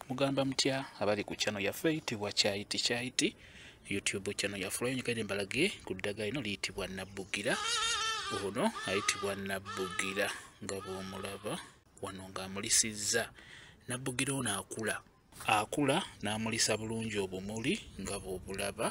mugamba mutya abali ku channel yaffe eyitibwa kyayiti kyayiti youtube channel yaffe olwayonyigaire mbalage ku ddagala lino liyitibwa nabbugira ono ayitibwa nabbugira nga bwomulaba wano ng'amulisizza nabbugira ono akula akula n'amulisa bulungi obumuli nga bwobulaba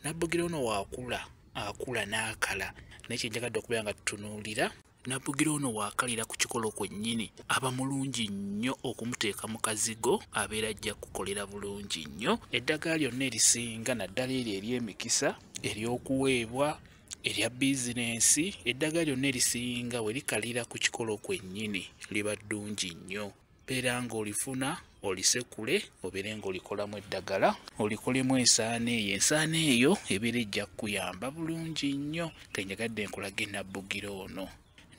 nabbugira ono waakula akula n'akala naye kyenjagadde okubeera nga tutunuulira Nabugira ono waakalira ku kikolo kwennyini aba mulungi nnyo okumuteeka mu kazigo abeera ajja kukolera bulungi nnyo eddagala lyonna erisinga naddala eryo ery'emikisa ery'okuweebwa erya bizinensi eddagala lyonna erisinga we likalira ku kikolo kwennyini liba ddungi nnyo beera ng'olifuna olisekule obeere ng'olikolamu eddagala olikolemu ensaana eyo ensaana eyo ebeera ejja kukuyamba bulungi nnyo kenjagadde nkulage nabbugira ono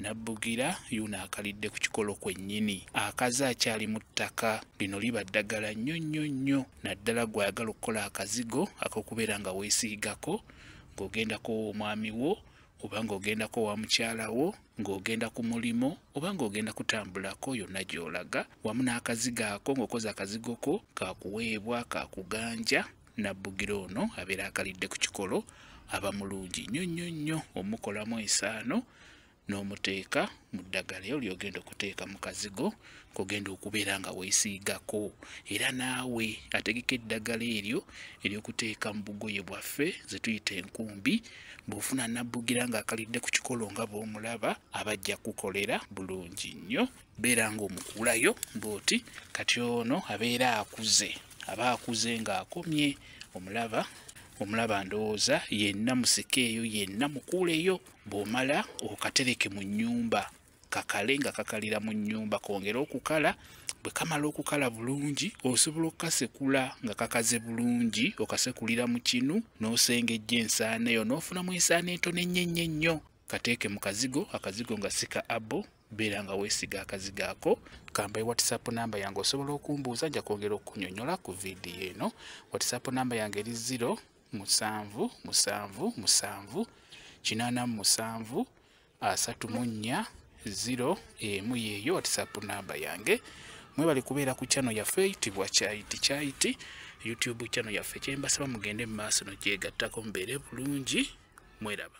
nabbugira yuno akalidde ku kikolo kwennyini akaze akyali mu ttaka lino liba ddagala nnyo nnyo nnyo naddala gw'ayagala okukola akazigo ak'okubeera nga weesiigako ng'ogendako omwami wo oba ng'ogendako wa mukyala wo ng'ogenda ku mulimu oba ng'ogenda kutambulako yonna gy'olaga wamu n'akazigo ako ng'okoze akazigo ko kakuweebwa kakuganja nabbugira ono abeera akalidde ku kikolo aba mulungi nnyo nnyo nnyo omukolamu ensaano n'omuteeka mu ddagala eyo lyogenda okuteeka mu kazigo kogenda okubeera nga weesiigako era naawe ategeka eddagala eryo ery'okuteeka mu bugoye bwaffe ze tuyita enkumbi bw'ofuna nabbugira ng'akalidde ku kikolo nga bw'omulaba abajja kukolera bulungi nnyo beera ng'omukuulayo bw'oti kati ono abeera akuze aba akuze ng'akomye omulaba omulaba ndowooza yenna musikeeyo yenna mukuuleyo bw'omala okatereke mu nnyumba kakale nga kakalira mu nnyumba kongere okukala bwe kamala okukala bulungi osobola okukasekula nga kakaze bulungi okasekulira mu kinu n'osengejja ensaana eyo n'ofunamu ensaana entono ennyo ennyo ennyo kateeke mu kazigo akazigo nga sika abo beera nga weesiga akazigo ako kamba e whatsapp namba yange osobola okumbuuza nja kwongera okunyonyola ku vidiyo eno whatsapp namba yange eri 0 musanvu musanvu musanvu kinaana mu musanvu asatu mu nnya ziro emu yeeyo whatsapp namba yange mwebale kubeera ku channel yaffe eyitibwa kyayiti kyayiti youtube channel yaffe kyembasaba mugende mu maaso nokyegattako mubeere bulungi mweraba